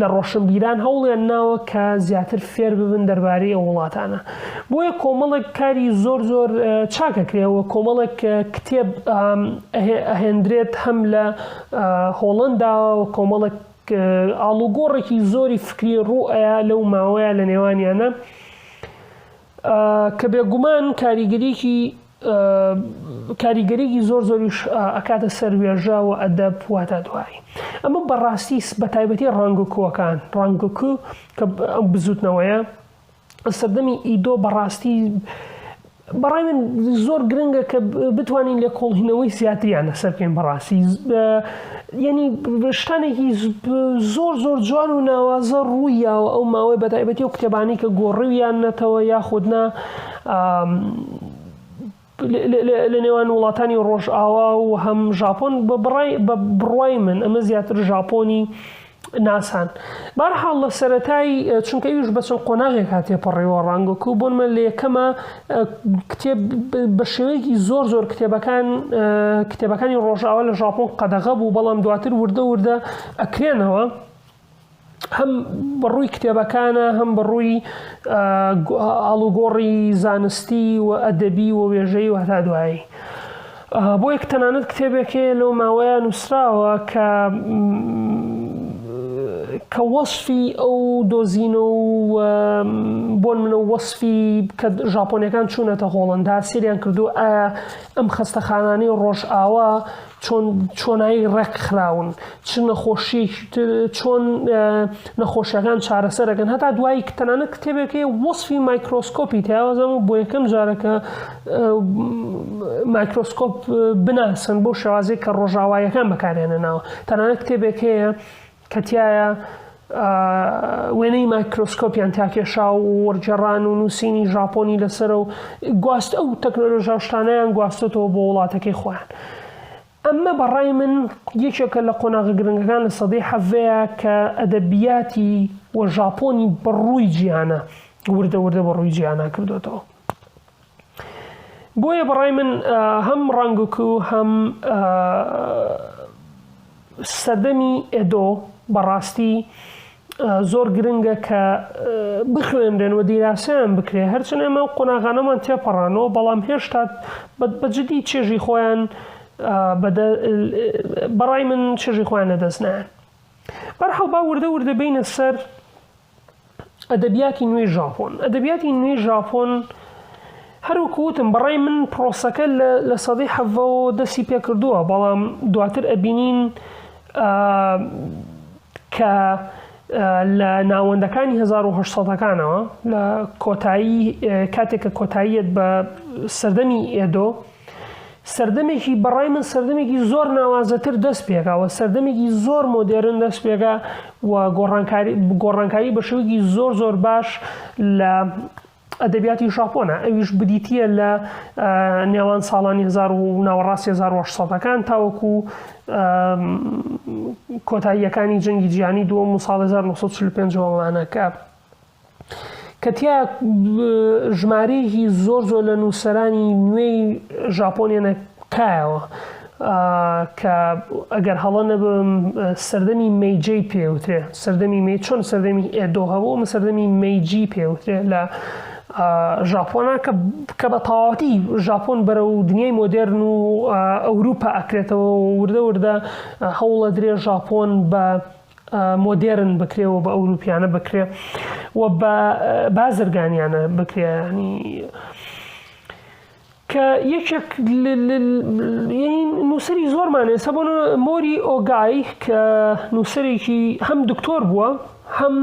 لە ڕۆشنبیران هەوڵیان ناوە کە زیاتر فێر ببن دەربارەی ئەو وڵاتانە بۆیە کۆمەڵێک کاری زۆر زۆر چاکەکرێەوە کۆمەڵێک کتێب ئەهێندرێت هەم لە هۆڵندا کۆمەڵێک ئاڵوگۆڕێکی زۆری فکری ڕوئەیە لەو ماوەیە لە نێوانیانە کە بێگومان کاریگەریەکی کاریگەریەکی زۆر زۆریش ئەکاتە سەر وێژە و ئەدەب واتە دوایی ئەمە بەڕاستی بە تایبەتی ڕانگکووەکان ڕانگکو کە ئەم بزوتنەوەیە سەردەمی ئیدۆ بەڕاستی بەڕای من زۆر گرنگە کە بتوانین لە کۆڵهینەوەی زیاتریان لەسەر بکەین بەڕاستی یەنی شتانێکی زۆر زۆر جوان و ناوازە ڕوویاوە ئەو ماوەی بەتایبەتی و کتێبانی کە گۆڕویان نەتەوە یاخودنا لە نێوان وڵاتانی ڕۆژئاوا و هەم ژاپۆن بە بڕای بە بڕای من ئەمە زیاتر ژاپۆنی ناسان بارحاڵ لە سەتای چونکە ئیش بەچەند قۆناغێک هاتێ پەڕیوە ڕانگۆکو بۆن من لە یەکەمە کتێب بە شێوەیەکی زۆر زۆر کتێبەکان کتێبەکانی ڕۆژاوە لە ژاپۆن قەدەغە بوو بەڵام دواتر وردە وردە ئەکرێنەوە هەم بەڕووی کتێبەکانە هەم بەڕووی ئاڵوگۆڕی زانستی و ئەدەبی و وێژەی و هەتا دوایی. بۆیە کە تەنانەت کتێبێک هەیە لەو ماوەیە نووسراوە کە کە وەصفی ئەو دۆزینە و بۆن منە وەصفی کە ژاپۆنەکان چوونەتە هۆڵندا سریان کردو ئەم خستەخانانی ڕۆژ ئاوا چۆن چۆنایی ڕێک خراون چ نەخۆشیەکی تر چۆن نەخۆشیەکان چارەسەرەکەن هەتا دوایی تەنانە کتێبێکی وەصفی مایکرۆسکۆپی تیاوازم و بۆ یەکەم جارەکە مایکرۆسکۆپ بناسن بۆ شێوازی کە ڕۆژاوایەکان بەکارێنە ناوە تەنانە کتێبێک هەیە کەتیایە وێنەی مایکرۆسکۆپیان تاکێشا و وەرجێڕان و نووسینی ژاپۆنی لەسەر و گواست ئەو تەکنۆلۆژاشتانیان گواستێتەوە بۆ وڵاتەکەی خۆیان. ئەمە بە ڕای من یەکێکە لە قۆناغە گرنگەکان لە سەدەی حەڤەیە کە ئەدەبیاتی و ژاپۆنی بە ڕووی جیهانە وردە وردە بە ڕووی جیهانا کردوێتەوە بۆیە بە ڕای من هەم ڕەنگک و هەم سەردەمی ئێدۆ بەڕاستی زۆر گرنگە کە بخوێنرێن و دیراسەیان بکرێ هەرچەند ئێمە و قۆناغانەمان تێپەڕانەوە بەڵام هێشتا بەجددی چێژی خۆیان بەڕای من چێژی خۆیان لەدەست نایەن بەرحەڵ با وردە وردە بینە سەر ئەدەبیاتی نوێی ژاپۆن ئەدەبیاتی نوێی ژاپۆن هەروکوتم بەڕای من پرۆسەکە لە سەدەی حەڤەوە دەستی پێکردووە بەڵام دواتر ئەبینین کە لە ناوەندەکانی هەزار و هەشت سەدەکانەوە لە کۆتایی کاتێک کە کۆتاییەت بە سەردەمی ئێدۆ سەردەمێکی بەڕای من سەردەمێکی زۆر ناوازەتر دەست پێکاوە سەردەمێکی زۆر مۆدێرن دەست پێکا و گۆڕانکاری گۆڕانکاری بە شوێکی زۆر زۆر باش لە ئەدەبیاتی ژاپۆنە ئەویش بدیتییە لە نێوان ساڵانی هزار و ناوەڕاستی 1970ەکان تاوەکو کۆتاییەکانی جەنگی جیانی دووەم و ساڵ 1945وانە کە کە تیا ژمارەیەکی زۆر زۆر لە نووسەرانی نوێی ژاپۆنیانە کایەوە کە ئەگەر هەڵە نەبم سەردەمی مەیجەی پێوترێ سەردەمی مەی چۆن سەردەمی ئێدۆ هەبوو ئەمە سەردەمی مەیجی پێوترێ لە ژاپۆنا کە کە بە تەواوەتی ژاپۆن بەرە و دنیای مۆدررن و ئەوروپا ئەکرێتەوە وردە وردە هەوڵە درێ ژاپۆن بە مۆدێرن بکرێەوە بە ئەوروپیانە بکرێ و بە بازرگانیانە بکرێنی کە یەکێک لەین نووسری زۆرمان ئێستا بۆ مۆری ئۆگای کە نووسەرێکی هەم دکتۆر بووە هەم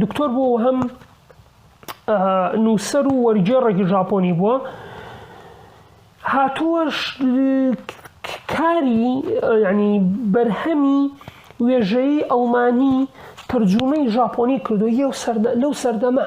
دکتۆر بوو و هەم نووسەر و وەرگێڕێکی ژاپۆنی بووە هاتووەش کاری ینی بەرهەمی وێژەیی ئەڵمانی ترجومەی ژاپۆنی کردو یە و لەو سەردەمە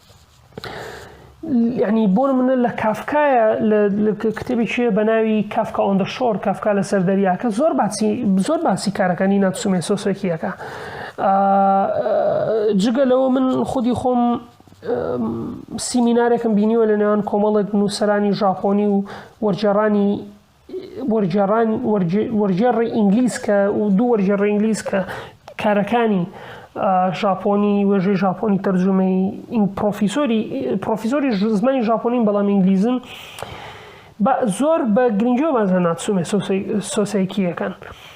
یعنی بۆ منە لە کافکایە لە کتێبی چێ بە ناوی کافکا ئۆندە شۆر کافکا لەسەر دەریاکە زۆر باسی زۆر باسی کارەکانی ناتسومێ سۆسێکیەکە جگە لەوە من خودی خۆم سیمینارێکم بینیوە لە نێوان کۆمەڵێک نووسرانی ژاپۆنی و وەرجێڕانی وەرگێڕانی وەرگێڕی ئینگلیز کە دوو وەرگێڕی ئینگلیز کە کارەکانی ژاپۆنی وێژەی ژاپۆنی تەرجمەی پرۆفیسۆری پرۆفیسۆری زمانی ژاپۆنین بەڵام ئینگلیزن زۆر بە گرنگیۆ بازە ناتسومێ سۆسیکیەکەن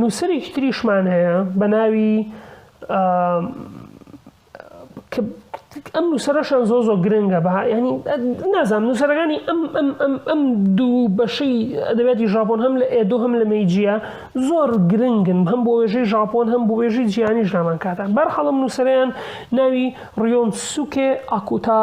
نووسەرێکی تریشمان هەیە بە ناوی ئەم نووسەرەشان زۆ زۆ گرنگە بە ینی نازانام نووسەرەکانی ئەم ئەم ئەم ئەم دوو بەشەی ئەدەبێتی ژاپۆن هەم لە ئێدۆ هەم لە مەیجیە زۆر گرنگن هەم بۆ وێژەی ژاپۆن هەم بۆ وێژی جیانی ژامان کاتە بەرحەڵم نووسەریان ناوی ڕیۆن سوکێ ئاکوتا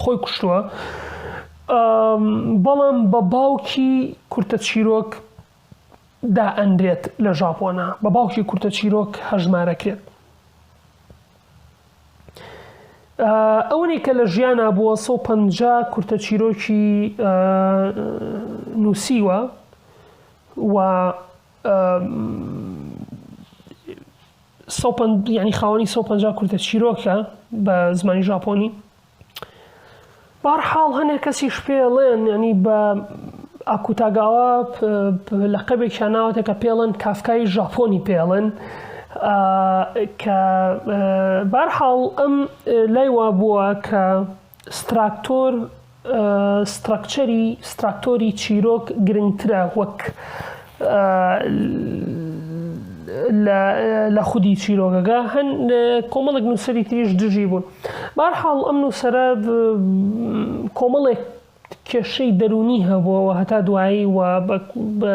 خۆی کوشتووە بەڵام بە باوکی کورتە چیرۆک دائەنرێت لە ژاپۆنا بە باوکی کورتە چیرۆک هەژمارەکرێت ئەونی کە لە ژیانە بووە 150 کورتە چیرۆکی نووسیوە و یانی خاوەنی 150 کورتە چیرۆکە بە زمانی ژاپۆنی بار حاڵ هەنێک کەسیش پێڵێن ینی بە ئاکوتاگاوا لە قەبێکیان ناوەتە کە پێڵن کافکای ژاپۆنی پێڵن کە بارحاڵ ئەم لای وا بووە کە ستراکتۆر، سترەکچەری، ستراکتۆری چیرۆک گرنگترە وەک لە خودی چیرۆکەکە، هەن کۆمەڵێک نووسەری تریش دژی بوون. بەهەرحاڵ ئەم نووسەرە کۆمەڵێک کێشەی دەروونی هەبووە و هەتا دوایی و بە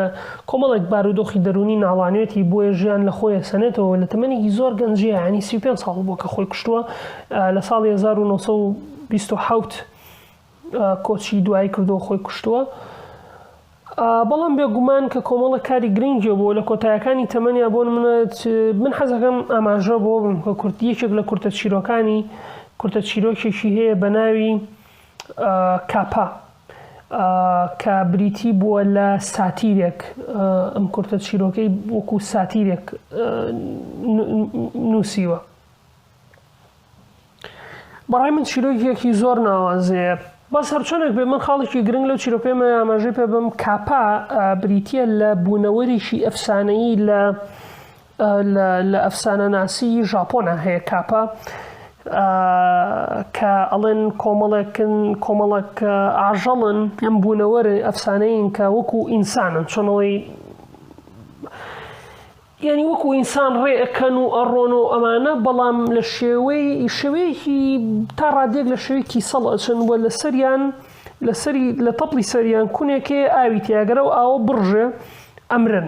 کۆمەڵێک بارودۆخی دەروونی ناڵانێتی بۆیە ژیان لە خۆی ئەسەنێتەوە و لە تەمەنێکی زۆر گەنجی یەعنی سی و پێنج ساڵ بووە کە خۆی کوشتووە لە ساڵی هەزار و نۆ سەد و بیست و حەوت کۆچی دوایی کردووە خۆی کوشتووە بەڵام بێگومان کە کۆمەڵە کاری گرنگی بۆ لە کۆتایەکانی تەمەنیا بۆن منە من حەزەکەم ئاماژە بۆ بم کە کورد یەکێک لە کورتە چیرۆکانی کورتە چیرۆکێکی هەیە بە ناوی کاپا، کە بریتی بووە لە ساتیرێک، ئەم کورتە چیرۆکەی وەکو ساتیرێک نووسیوە. بەڕای من چیرۆکێکی زۆر ناوازەیە بەس هەرچۆنێک بێ من خاڵێکی گرنگ لەو چیرۆکەمە ئاماژەی پێ بم کاپا بریتە لە بوونەوەریشی ئەفسانەیی لە لە ئەفسانەناسیی ژاپۆنا هەیە کاپا کە ئەڵێن کۆمەڵێکن کۆمەڵک ئاژەڵن ئەم بوونەوەرە ئەفسانەیین کە وەکو ئینسانن چۆنەوەی یعنی وەکو ئینسان ڕێ ئەەکەن و ئەڕۆن و ئەمانە بەڵام لە شێوەی شوەیەکی تا ڕادێک لە شوێکی سەڵ ئەچن بۆ لە سەریان لەسەری لە تەپڵی سەریان کونێکێ ئاوی تیاگەرە و ئاوە بڕژێ ئەمرن.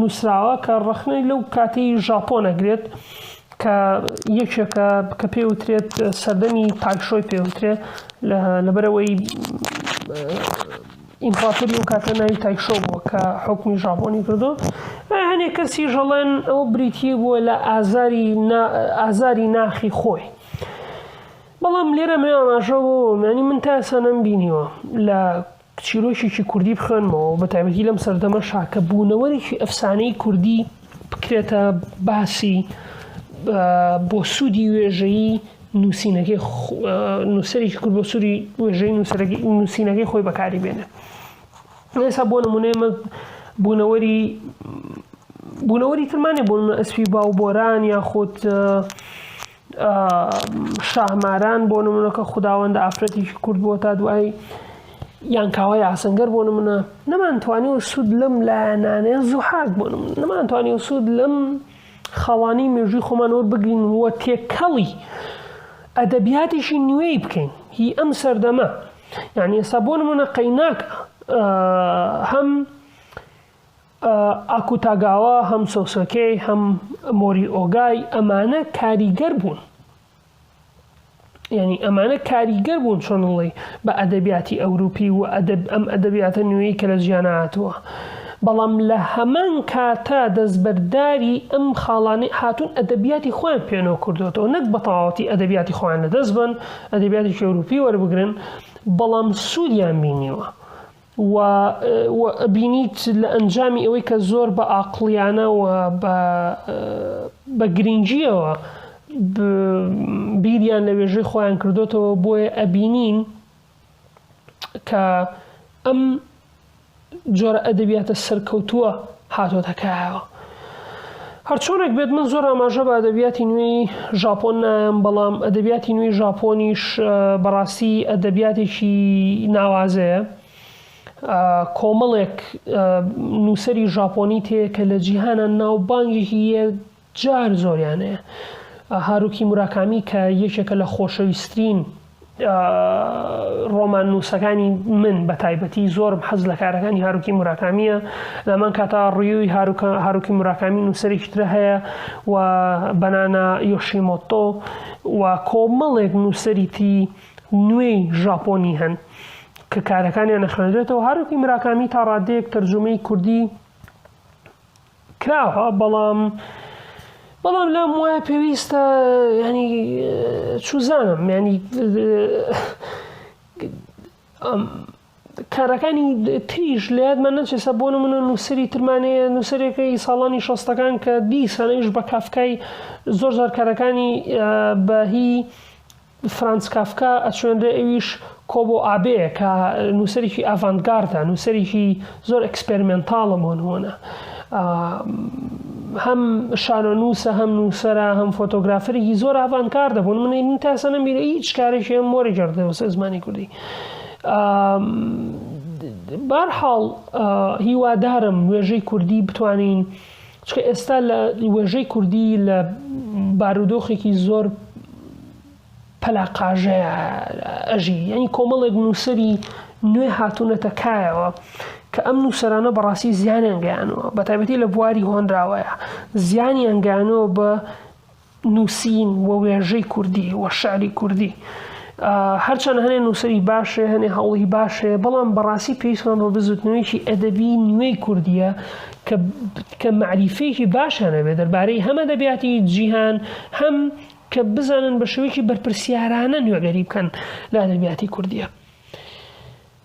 نووسراوە کە ڕەخنەی لەو کاتی ژاپۆن ئەگرێت کە یەکێکە کە پێ وترێت سەردەمی تایشۆی پێ وترێت لەبەرەوەی ئیمپراتۆری ئەو کاتە ناوی تایشۆ بووە کە حکومی ژاپۆنی کردو هەنێک کەسی ژەڵێن ئەو بریتی بووە لە ئازاری ئازاری ناخی خۆی بەڵام لێرە مێ ئاماژەوە مەنی من تاسەنم بینیوە لە چیرۆکێکی کوردی بخوێنمەوە بە تایبەتی لەم سەردەمەشا کە بوونەوەرێکی ئەفسانەی کوردی بکرێتە باسی بۆ سوودی وێژەیی نووسینەکەی نووسەرێکی کورد بۆ سووری وێژەی نووسینەکەی خۆی بەکاری بێنێ ئێستا بۆ نمونەیە بوونەوەری بوونەوەری ترمانێ بۆ ئەسپی باو بۆران یاخود شاهماران بۆ نمونە کە خوداوەندە ئافرەتێکی کورد بووە تا دوایی یان کاوای ئاسنگەر بۆ نمونە نەمانتوانی و سوود لەم لایەنانەیە زوحاک بۆ نەمانتوانی و سوود لەم خاڵانی مێژووی خۆمان وەربگرین وە تێکەڵی ئەدەبیاتیشی نوێی بکەین هی ئەم سەردەمە یعنی ئێستا بۆ نمونە قەیناک هەم ئاکوتاگاوا، هەم سۆسۆکی، هەم مۆریئۆگای، ئەمانە کاریگەر بوون. یعنی ئەمانە کاریگەر بوون چۆنڵی بە ئەدەبیاتی ئەوروپی و ئەدەب ئەم ئەدەبیاتە نوێی کە لە جیانە هاتووە بەڵام لە هەمان کاتە دەستبەرداری ئەم خاڵانی هاتوون ئەدەبیاتی خۆیان پێنەوە کردوێتەوە نەک بەتەواوەتی ئەدەبیاتی خۆیان لە دەست بن ئەدەبیاتی ئەوروپی وەربگرن بەڵام سوودیان بینیوە و و ئەبینیت لە ئەنجامی ئەوەی کە زۆر بە ئاقڵیانە و بە بە گرنگیەوە بیریان لە وێژەی خۆیان کردوتەوە بۆیە ئەبینین کە ئەم جۆرە ئەدەبیاتە سەرکەوتووە هاتۆتە کایەوە. هەرچۆنێک بێت من زۆر ئاماژە بە ئەدەبیاتی نوێی ژاپۆن نایەم، بەڵام ئەدەبیاتی نوێی ژاپۆنیش بەڕاستی ئەدەبیاتێکی ناوازەیە. کۆمەڵێک نووسەری ژاپۆنی تێیە کە لە جیهانا ناوبانگێکی جار زۆریان هەیە. هاروکی موراکامی کە یەکێکە لە خۆشەویسترین ڕۆماننووسەکانی من بە تایبەتی زۆرم حەز لە کارەکانی هاروکی موراکامیە لەمان کاتا ڕیوی هاروکی موراکامی نووسەرێکی ترە هەیە و بەنانا یۆشیمۆتۆ و کۆمەڵێک نووسەری تی نوێی ژاپۆنی هەن کە کارەکانیان نەخوێنرێتەوە هاروکی مراکامی تا ڕادەیەک تەرجومەی کوردی کراوە بەڵام بەڵام لام وایە پێویستە ینی چوزانم ینی کارەکانی تریش لە یادمان نەچێسە بۆ منە نووسری ترمانەیە نووسەرەکەی ساڵانی شەستەکان کە دی سانەیش بە کافکای زۆر زارکارەکانی بەهی فرانز کافکا ئەچوێنرێ ئەویش کۆبۆ ئابێ کە نووسەرێکی ئاڤانت گاردە نووسەرێکی زۆر ئەکسپێرمێنتاڵە بۆ نموونە هەم شانۆنووسە هەم نووسەرە هەم فۆتۆگرافەرێکی زۆر ئاڤانت گاردە بۆ منی من تاسە نەمیرە هیچ کارێکی هەم مۆری گردە وسە زمانی کوردی بارحاڵ هیوادارم وێژەی کوردی بتوانین چونکە ئێستا لە وێژەی کوردی لە بارودۆخێکی زۆر پەلاقاژەیە ئەژی یعنی کۆمەڵێک نووسری نوێ هاتوونەتە کایەوە کە ئەم نووسەرانە بەڕاستی زیانیان گەیانەوە بە تایبەتی لە بواری هۆنراوەیە زیانیان گەیانەوە بە نووسین و وێژەی کوردی و شعری کوردی هەرچەند هەنێ نووسری باشێ هەنێ هەوڵی باشێ بەڵام بەڕاستی پێویستمان بە بزوتنەوەیکی ئەدەبی نوێی کوردیە کە معریفێکی باشانە بێ دەربارەی هەمە دەبیاتی جیهان هەم کە بزانن بە شوێکی بەرپرسیارانە نوێگەری بکەن لە ئەدەبیاتی کوردیە.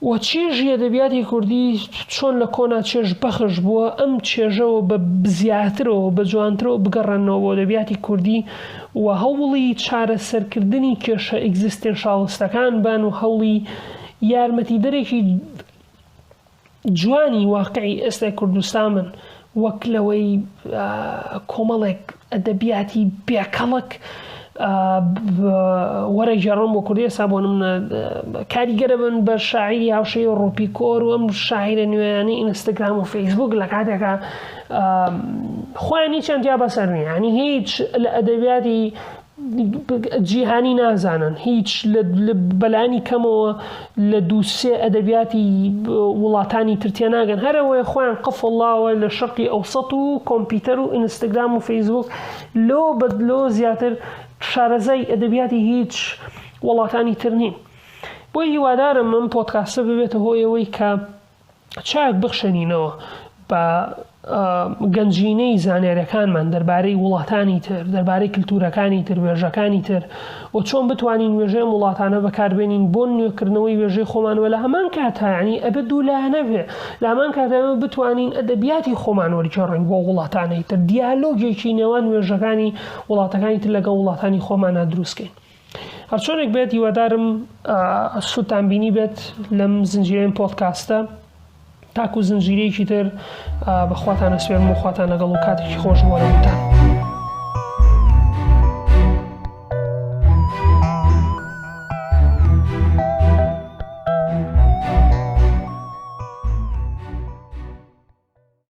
و چێژی ئەدەبیاتی کوردی چۆن لە کۆنا چێژ بەخش بووە ئەم چێژە و بە زیاترەوە و بە جوانترەوە بگەڕێنەوە بۆ ئەدەبیاتی کوردی و هەوڵی چارەسەرکردنی کێشە ئیگزیستێنشاڵستەکان بن و هەوڵی یارمەتیدەرێکی جوانی واقعی ئێستای کوردستان بن وەک لەوەی کۆمەڵێک ئەدەبیاتی بێ کەڵک وەرەگێڕن بۆ کوردی ئێستا بۆ نمونە کاریگەرە بن بە شاعیری هاوشێوی و ڕۆپیکۆر و ئەم شاعیرە نوێیانی ئینستاگرام و فەیسبوک لە کاتێکا خۆیان هیچیان جیا بەسەر نیە ینی هیچ لە ئەدەبیاتی جیهانی نازانن هیچ بەلانی کەمەوە لە دووسێ ئەدەبیاتی وڵاتانی تر تێناگەن هەرەوەی خۆیان قفڵڵاوە لە شەقی ئەوسەت و کۆمپیوتەر و ئینستاگرام و فەیسبوک لۆ بەدلۆ زیاتر شارەزای ئەدەبیاتی هیچ وڵاتانی تر نین بۆی هیوادارم من پۆتکاسە ببێتە هۆیەوەی کە چاک بخشێنینەوە بە گەنجینەی زانیاریەکانمان دەربارەی وڵاتانی تر دەربارەی کللتورەکانی تر وێژەکانی تر و چۆن بتوانین وێژەی وڵاتانە بەکاربێنین بۆ نوێکردنەوەی وێژەی خۆمانوە لە هەمان کاتانی ئەبێ دوو لایەنەبێ لامان کاتەوە بتوانین ئەدەبیاتی خۆمان وەرجێڕین بۆ وڵاتانی تر دیالۆگێکی نێوان وێژەکانی وڵاتەکانی تر لەگە وڵاتانی خۆمانە دروستکەین هەرچۆنێک بێت هیوادارم سوودتان بینی بێت لەم زنجیرەم پۆدکاستە تاکو زنجیرەیەکی تر بەخواتان ئەسوێرم و خواتان لەگەڵ و کاتێکی خۆش بۆ نەوتان.